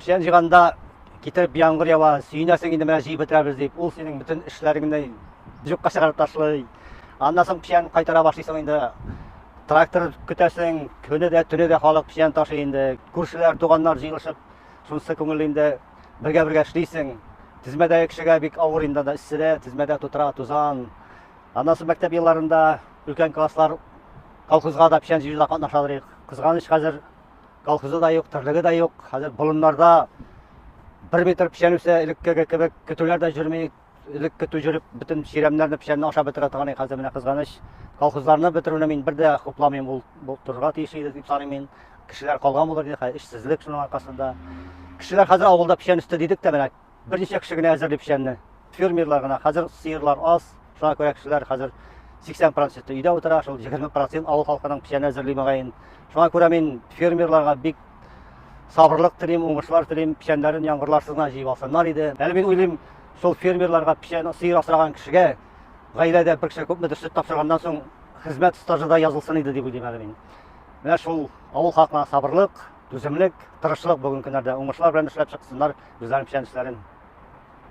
Печән җыйганда китереп яңгыр ява, сөенәсең инде менә җыеп бетерәбез дип, ул синең бөтен эшләреңне юкка чыгарып ташлый. Аннан соң печән кайтара башлыйсың инде. Трактор көтәсең, көне дә, төне дә халык печән ташый инде. Күршеләр, туганнар җыелышып, шунысы күңел инде, бергә-бергә эшлисең. Тезмәдәге кешегә бик авыр инде анда эсседә, тезмәдә тутыра, тузан. Аннан соң мәктәп елларында өлкән класслар колхозга да печән җыюда катнашалар. Кызганыч, хәзер колхозы да юк, терлеге дә юк. Хәзер болыннарда бер метр печән үсә, элеккеге кебек көтүләр дә йөрми. Элек көтү йөреп, бөтен чирәмнәрне печәнне ашап бетерә торган иде, хәзер менә кызганыч. Колхозларны бетерүне мин бер дә хупламыйм, ул булдырырга тиеш иде дип саныйм мин. Кешеләр калган булыр иде, хәзер эшсезлек шуның аркасында. Кешеләр хәзер авылда печән үсте дидек тә, менә берничә кеше генә әзерли печәнне. Фермерлар гына. Хәзер сыерлар аз. Шуңа күрә кешеләр хәзер 80% өйдә утыра, шул 20% авыл халкының печән әзерли мөгаен. Шуңа күрә мин фермерларга бик сабырлык телим, уңышлар телим, печәннәрен яңгырларсыз гына җыеп алсыннар иде. Әле мин уйлыйм, шул фермерларга печән сыер асраган кешегә гаиләдә бер кеше күпмедер сөт тапшырганнан соң хезмәт стажы да язылсын иде дип уйлыйм әле мин. Менә шул авыл халкына сабырлык, Түземлек, тырышлык, бүген көннәрдә уңышлар белән эшләп чыксыннар, үзләренең печән эшләрен.